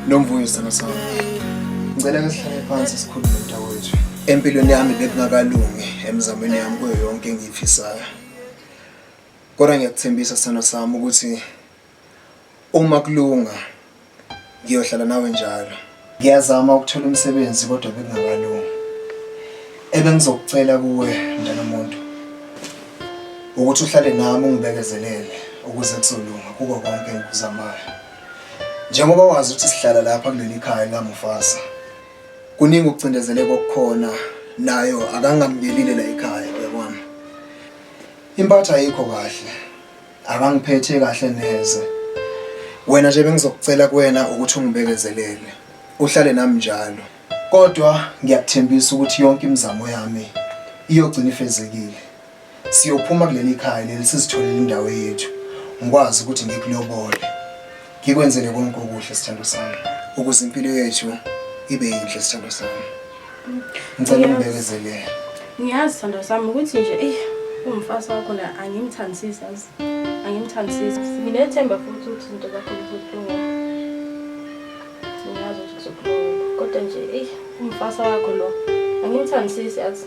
Nomvuyo sithando sami. Ngicela ngisihlale phansi sikhulume mntakwethu. Empilweni yami bekungakalungi emizamweni yami kuyo yonke engiyifisayo. Kodwa ngiyakuthembisa sithando sami ukuthi Uma kulunga ngiyohlala nawe njalo. Ngiyazama ukuthola umsebenzi kodwa bekungakalungi. Ebengizokucela kuwe mntanomuntu ukuthi uhlale nami ungibekezelele ukuze kuzolunga kuko konke engikuzamayo. Njengoba wazi ukuthi sihlala lapha kuleli khaya likaMufasa. Kuningi ukucindezeleka okukhona nayo akangamukelile la ekhaya uyabona. Impatho ayikho kahle. Akangiphethe kahle neze. Wena nje bengizokucela kuwena ukuthi ungibekezelele. Uhlale nami njalo. Kodwa ngiyakuthembisa ukuthi yonke imizamo yami iyogcina ifezekile. Siyophuma kuleli khaya leli sizitholele indawo yethu. Ngikwazi ukuthi ngikulobole. Ngikwenzele konke okuhle sithando sami ukuze impilo yethu ibe yinhle sithando sami. Ngicela ungibekezelele. Ngiyazi sithando sami ukuthi nje eyi umfazi wakho la angimthandisisi azi. Angimthandisisi. Nginethemba futhi ukuthi izinto zakho zizokulunga. Ngiyazi ukuthi kuzokulunga kodwa nje eyi umfazi wakho lo angimthandisisi azi.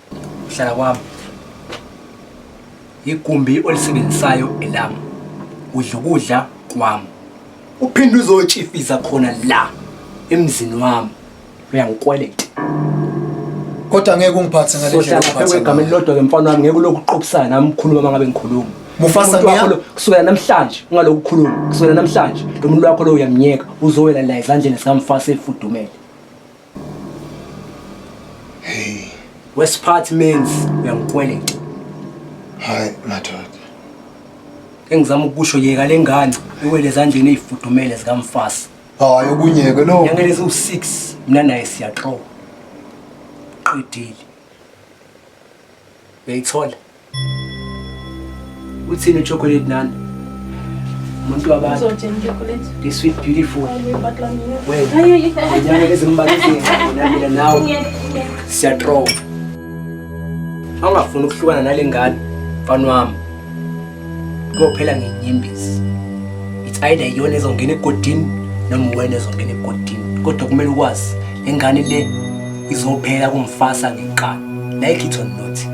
Hlala kwami. Igumbi olisebenzisayo elami. Udla ukudla kwami. Uphinde uzotshifiza khona la emzini wami. Uyangikweleta. Kodwa ngeke ungiphathe ngale ndlela ongiphathe ngayo. Igama elilodwa ke mfana wami ngeke ulokhu uqophisana nami ukhuluma uma ngabe ngikhuluma. Mufasa ngiya kusukela namhlanje ungalokhu ukhuluma kusukela namhlanje lo muntu wakho lo uyamnyeka uzowela la ezandleni zika mfasa efudumele. Hey. West part means uyangikweleta. Hayi madoda. Engizama ukusho yeka lengane iwele ezandleni ezifudumele zikamfasi. Hayi okunyeke lo. Ngeke lezi u6 mina naye siyaxoxa. Qedile. Uyayithola? Uthini chocolate nani? Umuntu wabantu. Uzothenga chocolate. This sweet beautiful. Wena. Ngiyake lezimbakisini nami nawe. Siyatrova. Awungafuni ukuhlukana nalengane mfana wami. kophela ngenyembezi it's either iyona ezongena egodini noma uwena ezongena egodini kodwa kumele ukwazi le ngane le izophela kumfasa ngeqala like it or not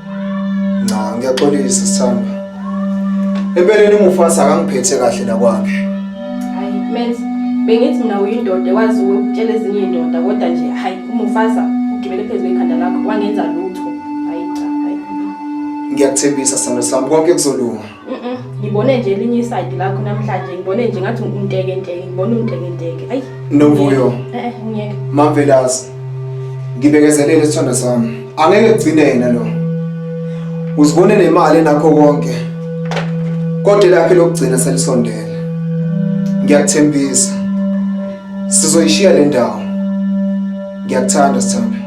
Cha ngiyaxolisa sithando. Empeleni umufasi akangiphethe kahle la kwakhe. Hayi menz bengithi mina uyindoda ekwazi ukutshela ezinye izindoda kodwa nje hayi umufasa ugibele phezulu ekhanda lakho wangenza lutho. Hayi cha hayi. Ngiyakuthembisa sithando sami konke kuzolunga. ngibone nje elinye isayidi lakho namhlanje ngibone nje ngathi unteke nteke ngibone unteke nteke ayi novuyo eh, eh ngiyeke mavelasi ngibekezelele isithanda sami angeke kugcine yena lo uzibone nemali enakho konke kodwa lakhe lokugcina selisondele ngiyakuthembisa sizoyishiya le ndawo ngiyakuthanda sithanda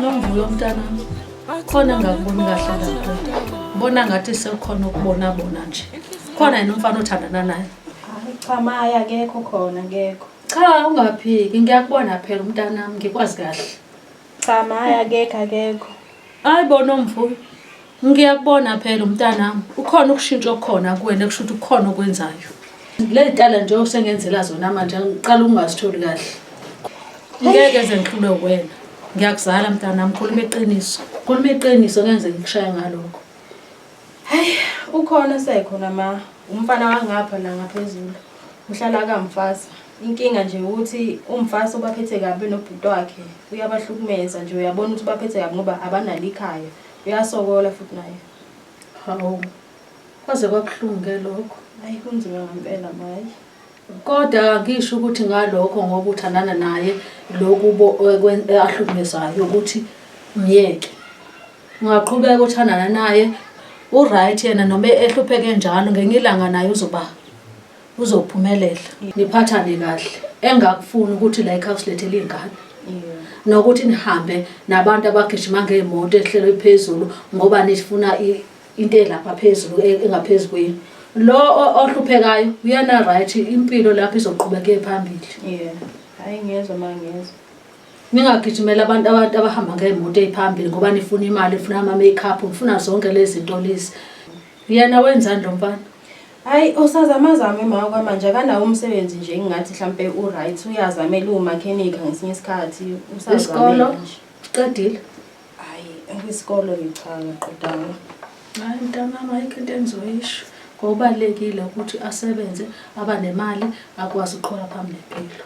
Nomvuyo mntana khona ngakuboni kahle lapho bona ngathi sekukhona ukubona bona nje khona yena umfana othandana naye Hayi cha maye akekho khona akekho. Cha ungaphiki ngiyakubona phela umntanami ngikwazi kahle. Cha maye akekho akekho. Hayi bona omfuyo. Ngiyakubona phela umntanami ukhona ukushintsha okukhona kuwena kusho ukuthi kukhona okwenzayo. Lezi tala nje osengenzela zona manje ngiqala ukungazitholi kahle. Ngeke ze ngihlule wena. Ngiyakuzala mntanami khuluma iqiniso. Khuluma iqiniso ngeke ngikushaye ngalokho. Hayi ukhona esekhona ma umfana wangapha la ngaphezulu uhlala kamfasa inkinga nje ukuthi umfasa ubaphethe kabi nobhuti wakhe uyabahlukumeza nje uyabona ukuthi ubaphethe kabi ngoba abanalo ikhaya uyasokola futhi naye hawu kwaze kwabuhlungu-ke lokho hayi kunzima ngempela mayi kodwa ngisho ukuthi ngalokho ngoba uthandana naye loku ahlukumezayo ukuthi myeke Ungaqhubeka uthandana naye uright yena noma ehlupheke njalo ngenye ilanga naye uzoba uzophumelela niphathane kahle engakufuni ukuthi la ekhaya usilethele iy'ngane nokuthi nihambe nabantu abagijima ngey'moto ehlelo iphezulu ngoba nifuna into elapha phezulu e, engaphezu kwenu lo ohluphekayo uyena right impilo lapho izoqhubeke phambili yeah hayi ngiyezwa mangiyezwa Ningagijimela abantu abantu abahamba ngey'moto ey'phambili ngoba nifuna imali, nifuna ama-makeup, nifuna zonke lezi zinto lezi. Yena wenzani lo mfana? Hayi usazamazama umama kwamanje akanawo umsebenzi nje engingathi mhlampe u-right uyazamela uwumakhenikha ngesinye isikhathi Isikolo? usazamela nje. Uqedile? Hhayi kwisikolo ngichanga qedanga. Hayi mntanami ayikho into engizoyisho. Ngokubalulekile ukuthi asebenze, abanemali, akwazi ukuqhubeka phambili nempilo.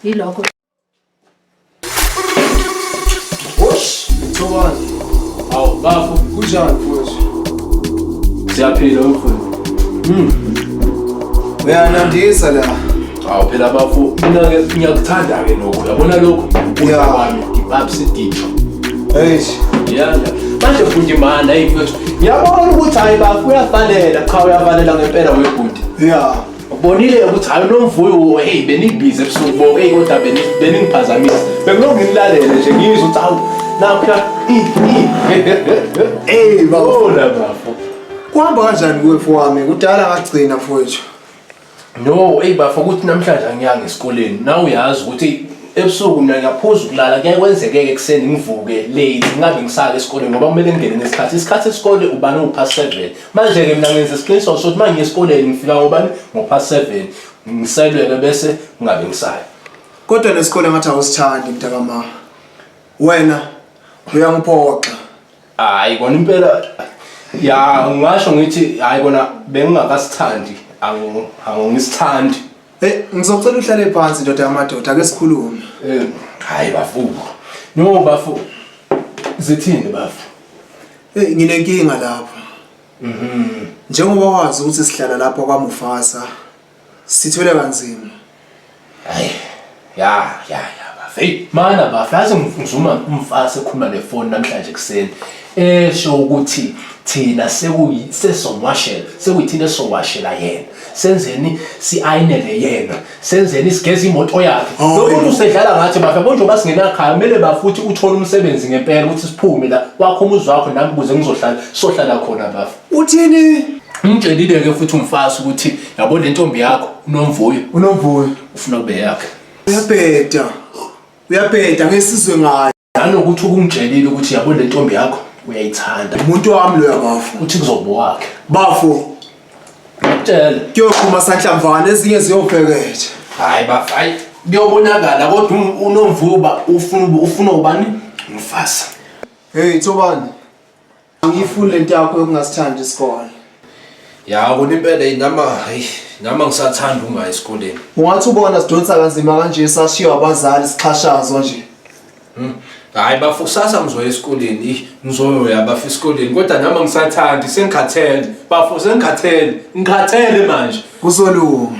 Yilokho. Hoş, Çoban. Al, bafo, kucağın koyuyorsun. Siyaphila umfuni. Hmm. Uyanandisa la. Awu phela bafo, mina ke ngiyakuthanda ke lokho. Uyabona lokho? Uya kwami, ngibabsi ditho. Hey. Yeah. Manje fundi mana, hey mfethu. Ngiyabona ukuthi hayi bafo uyafanela, cha uyafanela ngempela webhuti. Yeah. Ubonile ukuthi hayi unomvuyo hey benibhizi ebusuku bo hey kodwa beningiphazamisa. Bekulo nginilalele nje ngizwe ukuthi hawu napha Hey bafo. Bona bafo. Kuhamba kanjani kuwe fowami? Kudala ngagcina fowethu. No, hey bafo ukuthi namhlanje angiyanga esikoleni. Nawu uyazi ukuthi ebusuku mina ngiyaphuza ukulala kuyaye kwenzeke-ke ekuseni ngivuke late ngingabe ngisake esikoleni ngoba kumele ngingene nesikhathi isikhathi esikole ubani uwupha seven Manje-ke mina ngenza isiqiniseko sokuthi uma ngiye esikoleni ngifika ngobani ngo-past seven ngiselwele bese ngingabe ngisayo kodwa nesikole ngathi awusithandi mntakama wena uyangiphoxa hayi kona impela ya ngasho ngithi hayi kona bengingakasithandi angisithandi hey ngizocela uhlale phansi ndoda yamadoda ake sikhulume hayi bafuku no bafu zithini bafu Hey nginenkinga lapha. Mhm. Njengoba wazi ukuthi sihlala lapha kwaMufasa sithwele kanzima. Hayi. Ya, ya, ya bafo. Hey, mana bafo, yazi ngizuma umfasa ekhuluma nefoni namhlanje kuseni. Esho ukuthi thina sekuyi sesongwashela, sekuyithina esongwashela yena. Senzeni siayinele yena. senzeni sigeza imoto yakhe oh, lo muntu usedlala ngathi bafa konje uba singenakhaya kumele bafuthi uthole umsebenzi ngempela ukuthi siphume la wakho umuzi wakho nami kuze ngizohlala sohlala khona bafa uthini ngitshelile ke futhi umfazi ukuthi yabo le ntombi yakho unomvuyo unomvuyo ufuna kube yakhe uyabheda uyabheda ngesizwe ngayo nanokuthi ukungitshelile ukuthi yabo le ntombi yakho uyayithanda umuntu wami loya bafo uthi kuzoba wakhe bafo tshela kuyoqhuma sanhlamvana ezinye ziyofekethe hayi bafo hayi kuyobonakala kodwa um- unomvuba ufuna ufuna ubani umfazi hey thobani Angiyifuni le nto yakho yokungasithandi isikole. Ya kona impela inama hayi nama ngisathanda ungayi esikoleni. Ungathi ubona sidonsa kanzima kanje sashiywa abazali sixhashazwa nje. Hmm. Hayi bafo kusasa ngizoya esikoleni. Ih ngizoya bafo esikoleni kodwa nama ngisathandi sengikhathele. Bafo sengikhathele. Ngikhathele manje. Kuzolunga.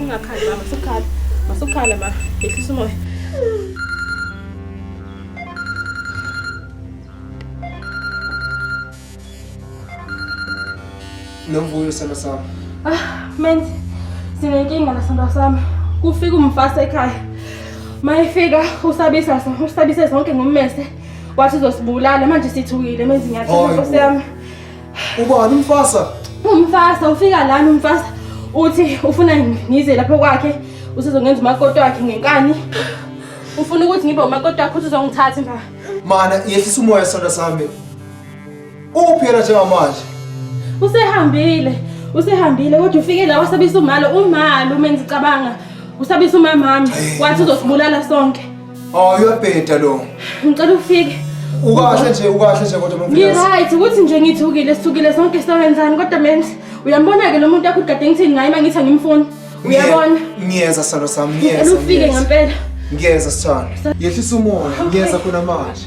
Ungakhali mama, sukhala. Masukhala ma, yehlisa umoya. Nomvuyo sithando sami. Ah, menzi. Sinenkinga nasithando sami. Kufika umfasa ekhaya. Mayefika usabisa usabise zonke ngommese. wathi uzosibulala manje sithukile menza inyathelo Hayi nkosi bo. yami Ubani umfasa? umfasa ufika lana umfasa uthi ufuna ngize lapho kwakhe usezongenza umakoti wakhe ngenkani ufuna ukuthi ngibe umakoti wakhe uthi uzongithatha mba Mana yehlisa umoya sonda sami. Uphi yena njengamanje? Usehambile. Usehambile kodwa ufike la wasabisa umalo umalo uma ngicabanga. Usabisa umamami wathi uzosibulala sonke. Oh uyabheda lo. Ngicela ufike. Ukahle nje ukahle nje kodwa mfundisi. Ngi right ukuthi nje ngithukile sithukile sonke sawenzani kodwa menzi uyambona ke lo muntu akugade ngithini ngaye mangithi angimfuni. Uyabona? Ngiyeza salo sami ngiyeza. Ngicela ufike ngempela. Ngiyeza sithanda. Yehlisa umoya ngiyeza khona manje.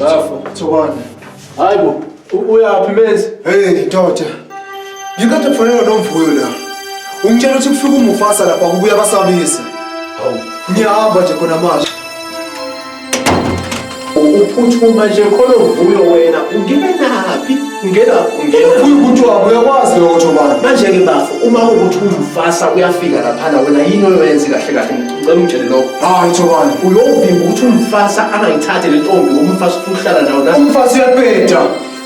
Bafo, Thobane. Hayibo, uyaphi mezi? Hey, ndoda. Ngikade kufanele nomvuyo la. Ungitshela ukuthi kufika umufasa lapha kubuya basabisa. Hawu, ngiyahamba nje khona manje. Uphuthuma nje khona uvuyo wena, ungena naphi? Ungena, ungena. Uvuyo ukuthi wabo uyakwazi lokho Thobane. Manje ke bafo, uma ukuthi umufasa uyafika lapha wena yini oyoyenza kahle kahle? ngicela ungitshele lokho hayi thobani uyovimba ukuthi umfasa angayithathe le ntombi ngoba umfasa ufuna ukuhlala nawo la umfasa uyabheda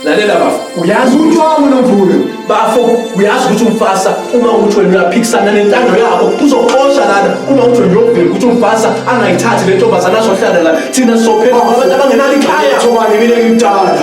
lalela bafo uyazi ukuthi wami nomvuyo bafo uyazi ukuthi umfasa uma uthi wena uyaphikisana nentando yabo uzoxosha lana uma uthi wena uyovimba ukuthi umfasa angayithathe le ntombazana azohlala la thina sizophela abantu abangenalo ikhaya thobani mina ngimdala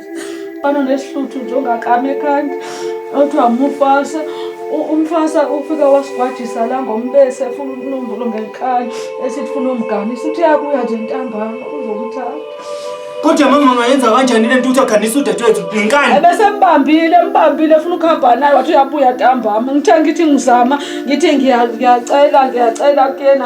banonesihluthi nje ongakami ekhanda othiwa mufasa umfasa ufika wasigwajisa la ngombese efuna ukunumbulo ngenkani esithi funa umgani sithi yakuya nje ntambama uzokuthatha kodwa mama ngayenza kanjani le ntuthu akhanisa udadewethu ngenkani ebesembambile embambile funa ukuhamba naye wathi uyabuya ntambama ngithe ngithi ngizama ngithi ngiyacela ngiyacela kuyena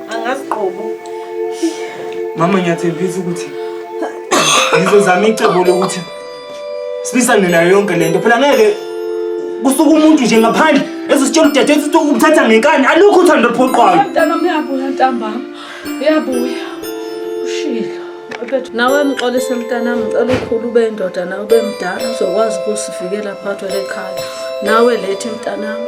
Angazi qobo. Mama ngiyathembisa ukuthi ngizozama icebo lokuthi sibisane nayo yonke lento. Phela ngeke kusuka umuntu nje ngaphandle ezositshela udade ukuthi umthatha ngenkani alukho uthando luphoqwayo. Mntana uyabuya ntambama. Uyabuya. Ushilo. Nawe mxolise mntanami ngicela ukhulu ube indoda nawe ube mdala uzokwazi ukusivikela phakathi lekhaya. Nawe lethi mntanami.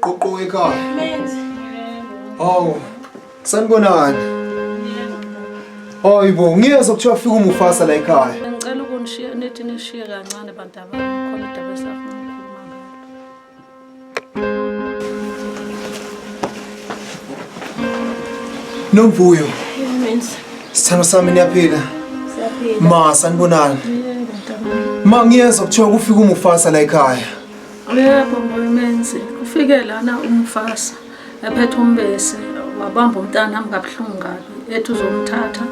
Ququ ekhaya. Menzi. Hawu. Sanibonani. Hayi bo, ngiyeza kuthiwa fika umufasa la ekhaya. Ngicela ukunishiya nithi nishiye kancane bantu abami khona indaba esafuna. Nomvuyo. Sithando sami niyaphila. Ma sanibonani. Ma ngiyezwa kuthiwa kufika umufasa la ekhaya. Yebo, Menzi. Ufike lana umufasa. ephethe umbese wabamba umntana nami kabuhlungu kabi ethi uzomthatha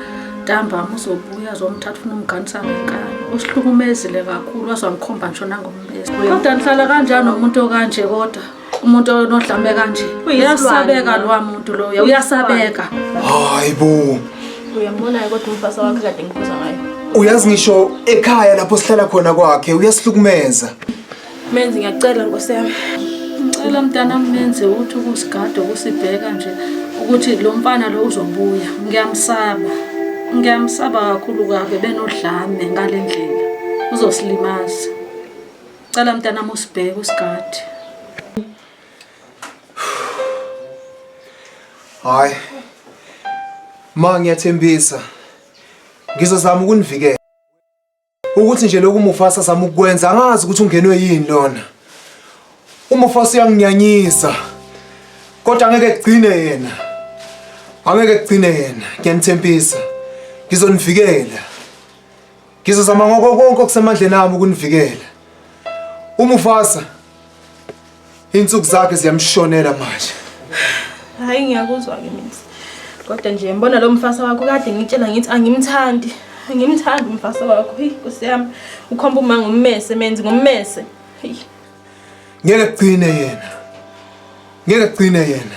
ntambama uzobuya azomthatha ufuna umganisa ngenkani usihlukumezile kakhulu waze wangikhomba ngisho nangombese kodwa nihlala kanjani nomuntu okanje kodwa umuntu onodlame kanje uyasabeka lowa muntu loyo uyasabeka hayi bo uyambona kodwa umfasa wakhe kade ngikhuza ngayo uyazi ngisho ekhaya lapho sihlala khona kwakhe uyasihlukumeza Menzi ngiyacela nkosi yami. Ngicela mntana menzi ukuthi ukusigada ukusibheka nje ukuthi lo mfana lo uzobuya. Ngiyamsaba. Ngiyamsaba kakhulu kabe benodlame ngale ndlela. Uzosilimaza. Cela mntana musibheke usigadi. Hayi. Ma ngiyathembisa. Ngizozama ukunivikela. ukuthi nje lokhu Mufasa zama ukwenza angazi ukuthi ungenwe yini lona uMufasa uyanginyanyisa kodwa angeke kugcine yena angeke kugcine yena ngiyanithembisa ngizonivikela ngizozama ngoko konke okusemandleni ami ukunivikela uMufasa Insuku zakhe ziyamshonela manje. Hayi ngiyakuzwa ke mina. Kodwa nje mbona lo mfasa wakho kade ngitshela ngithi angimthandi. Angimthandi umfasa wakho. Hey Nkosi yami. Ukhomba uma ngommese menzi ngommese. Hey. Ngeke kugcine yena. Ngeke kugcine yena.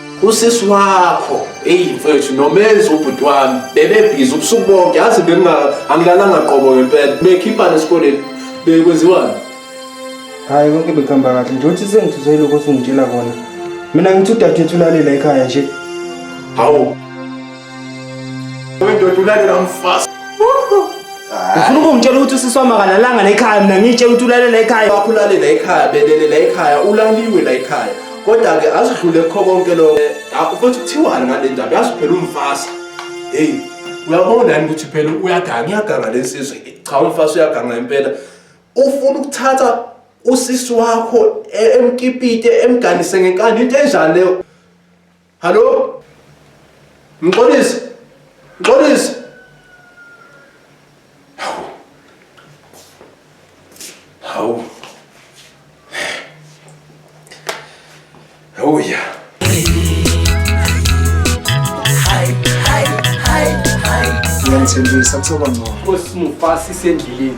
usisi wakho eyi mfethu nomenzi ubhuti wami bebebhizi ubusuku bonke yazi angilalanga qobo ngempela bekhiphane esikoleni bekwenziwani hhayi konke bekuhamba kahle nje uthi sengithuse lokho osungitshela kona mina ngithi udadewethu ulalela ekhaya nje hawu Wendoda ulalela umfazi. Ufuna ukungitshela ukuthi usisi wami akalalanga la ekhaya mina ngitshela ukuthi ulalela ekhaya. Wakho ulalela ekhaya, belele la ekhaya, ulaliwe la ekhaya. Kodwa ke asidlule kukho konke lokho. Ah, Ufuthi kuthiwani ngale ndaba? Yazi phela umfazi. Hey, uyabona yini ukuthi phela uyaganga, uyaganga lensizwe. Cha umfazi uyaganga impela. Ufuna ukuthatha usisi wakho e- emkipite emganise ngenkani into enjani leyo? Hallo? Mxolisi. Mxolisi. Hawu. Hawu. Oh yeah. Ngiyathembisa kuzoba ngcono. Nkosi Mufasi sendleleni.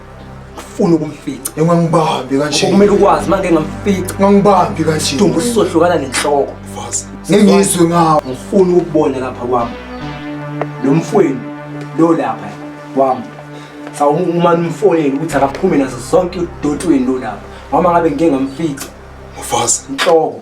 ufuna ukumfica engangibambi kanje kumele ukwazi uma ngeke ngamfica ngangibambi kanje dumbu usizohlukana nenhloko fazi ngengizwe ngawo ngifuna ukubona lapha kwami lo mfweni lo lapha kwami sawuma umfonele ukuthi akaphume nazo zonke udotweni lo lapha mama ngabe ngike ngamfica ufazi inhloko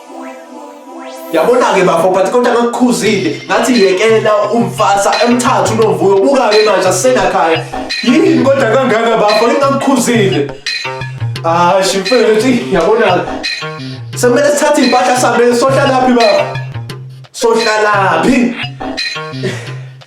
yabona-ke bafo but kodwa ngakukhuzile ngathi yekela umfasa emthathu unovuyo buka-ke manje asisenakhaya yini kodwa kangaka bafo ingakukhuzile hayi shimfethu yabona-ke sekumele sithathe iy'mpahla sihambele sohlalaphi bafo sohlalaphi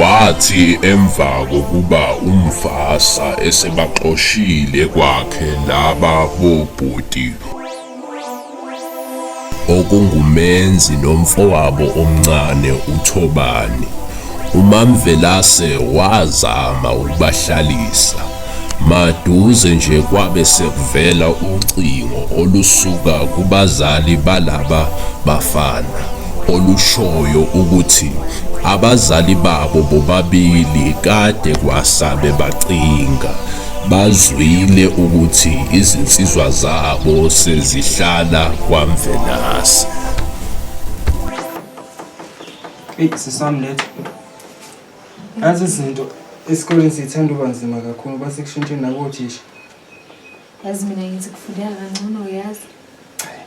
Wathi emva kokuba umfasa esebaxoshile kwakhe laba bobhuti okungumenzi nomfowabo omncane uThobani, uMaMvelase wazama ukubahlalisa. Maduze nje kwabe sekuvela ucingo olusuka kubazali balaba bafana olushoyo ukuthi abazali babo bobabili kade kwasabe bacinga bazwile ukuthi izinsizwa zabo sezihlala kwaMvelase. Hey, sisami lethu. Nazi izinto esikoleni sithanda uba nzima kakhulu basekushintsheni nakothisha. Yazi mina ngithi kufundeka kangcono yazi.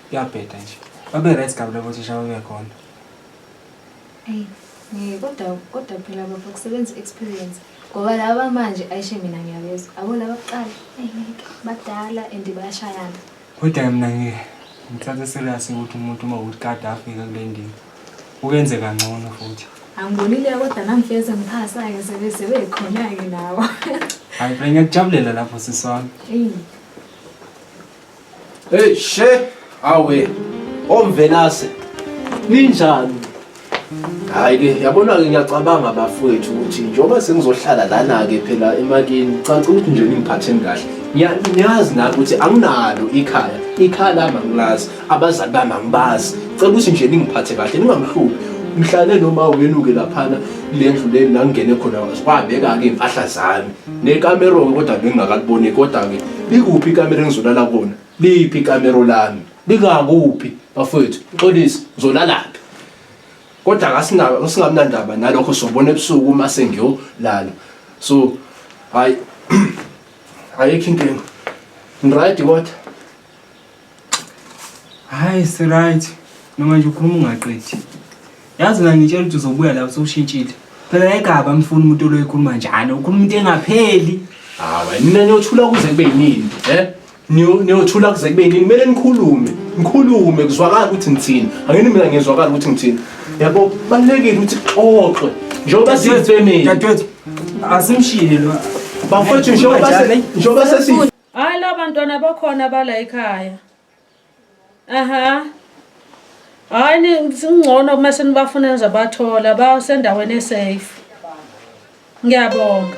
Kuyabheda nje. Babe right kabi labo thisha babekhona. Eyi, ngeke kodwa kodwa phela baba kusebenza i-experience. Ngoba laba manje ayishe mina ngiyabezwa. Abo laba kuqala, eyi ngeke badala and bayashayana. Kodwa mina ngi- ngithathe serious ukuthi umuntu uma ukuthi kade afika kule ndima. ukenze kangcono futhi angibonile kodwa namfeza ngiphasa-ke sebe sebekhona-ke nawo hayi phela ngiyakujabulela lapho sisi wami eyi Hey she awe omvelase ninjani Hayi ke yabona ke ngiyacabanga bafowethu ukuthi njengoba sengizohlala lana ke phela emakini caca ukuthi nje ningiphatheni kahle Ngiya- niyazi nami ukuthi anginalo ikhaya ikhaya lami angilazi abazali bami angibazi cela ukuthi nje ningiphathe kahle ningangihluphi mhlale noma uyenuke laphana kule ndlu le la ngingene khona wabeka-ke iy'mpahla zami nekamero-ke kodwa bengingakaliboni kodwa-ke likuphi ikamero engizolala kona liphi ikamero lami lingakuphi bafowethu uxolise ngizolalaphi kodwa kasingamnandaba nalokho sobona ebusuku uma sengiyolala so hayi ayikho inkinga ngiright kodwa Hayi siright noma nje ukhuluma ungaqedi. Yazi mina ngitshela ukuthi uzobuya la usewushintshile. Phela egaba amfuni umuntu oloyikhuluma njalo. Ukhuluma into engapheli. Hayi nina niyothula kuze kube yini? Eh? Niyo niyothula kuze kube yini? Kumele nikhulume. Nikhulume kuzwakala ukuthi ngithini. Angini mina ngizwakala ukuthi ngithini. Yabo balekile ukuthi xoxwe. Njengoba siyifemini. Dadewethu asimshiyile lo. Bafethu njengoba se njengoba sesi Hayi labantwana bakhona bala ekhaya. Aha. Hayi ningcono uma senibafuna nizabathola basendaweni esafe. Ngiyabonga.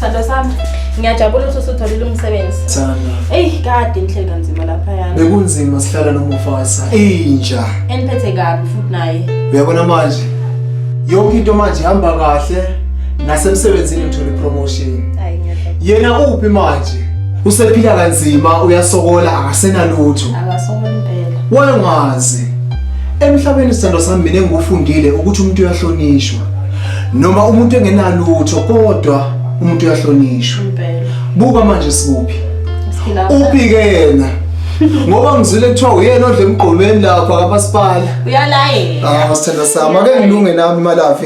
Sando sami. Ngiyajabula ukuthi usutholile umsebenzi. Thanda. Ey, kade inhlelo kanzima lapha yana. Bekunzima sihlala nomufasa. Inja. Eniphethe kabi futhi naye. Uyabona manje. Yonke into manje ihamba kahle. nasemsebenzini ngithole promotion yena uphi manje usephila kanzima uyasokola akasenalutho akasokola impela wayengazi emhlabeni isithando sami mina engikufundile ukuthi umuntu uyahlonishwa noma umuntu engenalutho kodwa umuntu uyahlonishwa buka manje sikuphi uphi ke yena ngoba ngizile kuthiwa uyena odle emgqomeni lapha kamasipala uyalayela ah sithanda sami ake ngilunge nami imalafi